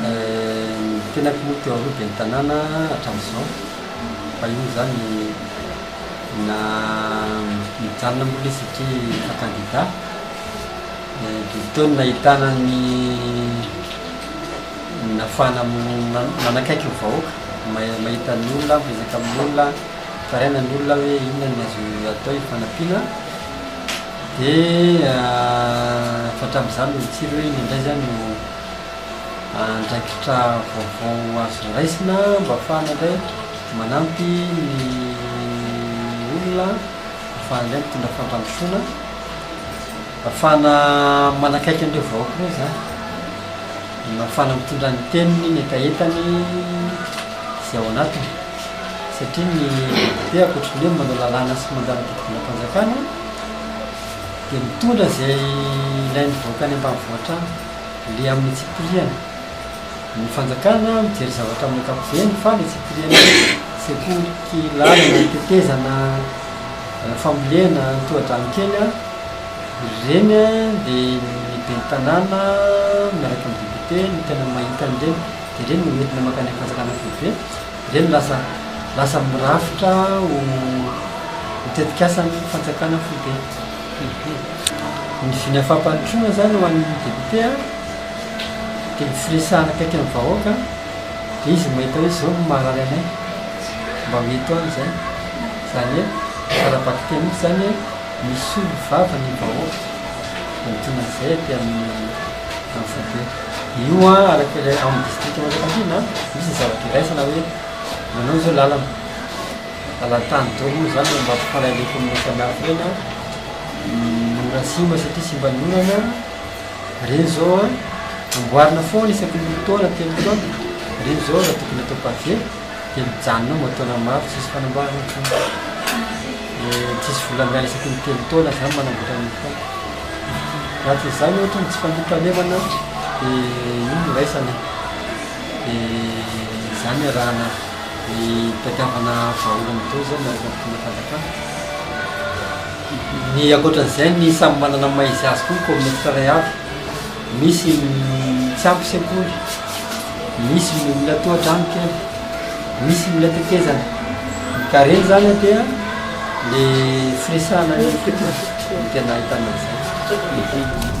Ny tenako moa teo aloha dia ny tanàna hatramin'izao fa io moa izany na mijanona mbola izy satria efa kandida. Dia teo no nahitana ny nahafahana manakaiky ny vahoaka, mahita ny olona, miresaka amin'ny olona, mitaraina ny olona hoe inona no azo atao hifanampiana. Dia efa hatramin'izany no nitsiry hoe inona indray izany io andraikitra vaovao azo raisina mba hahafahana indray manampy ny olona, hahafahana indray mitondra fampandrosoana, hahafahana manakaiky an'ireo vahoaka ireo izany, hahafahana mitondra ny teniny, ny hetahetany izay ao anatiny. Satria ny depiote ankoatry ny hoe manao lalàna sy manjary mitady volam-panjakana, dia mitondra izay ilain'ny vahoaka any ambanivohitra any, le amin'ny antsipiriany. Ny fanjakana mijery zavatra amin'ny ankapobeny fa ny antsipiriany hoe sekoly, lalana, tetezana, fambolena, tohadrano kely an, ireny an dia ny ben'ny tanàna miaraka amin'ny député no tena mahita an'ireny dia ireny no hoentina mankany amin'ny fanjakana foibe. Dia ny lasa lasa mirafitra ho ho tetikasan'ny fanjakana foibe. Ny vina fampandrosoana izany ho an'ny député an, dia ny firesahana akaiky amin'ny vahoaka an, dia izy mahita hoe izao no maharary anay, mba ho eto any izay. Izany hoe tsara vakiteny mihitsy izany hoe misolo vava ny vahoaka, antonona izay aty amin'ny foibe. Io an, araka ilay ao amin'ny distrikan'i Manjakandriana an, misy ny zavatra iraisana hoe manao izao lalana, lalan-tany daholo moa izany mba hampifanahy le kaominina samihafa ireny an, ny ora Atsimo satria simban'ny orana, ireny izao an, amboarina foana isaky ny roa taona, telo taona, ireny izao raha tokony atao pavé. dia mijanona ao mba taona maro tsisy fanamboarana intsony dia tsisy vola miala isaky ny telo taona zany manamboatra ny fond raha tsy izany ohatra ny tsy fandriampahalemana dia io no raisana dia zany arahana ny tadiavana vahaolana izao izay miaraka amin'ny fomba fanjakana ny ankoatran'izay ny samy manana ny maha izy azy koa ny kaominisitra iray avy Misy ny tsy ampy sekoly, misy ny mbola tohadrano kely, misy ny mbola tetezana. Ny karena izany dia le firesahana ny fepetra no tena ahitana an'izay.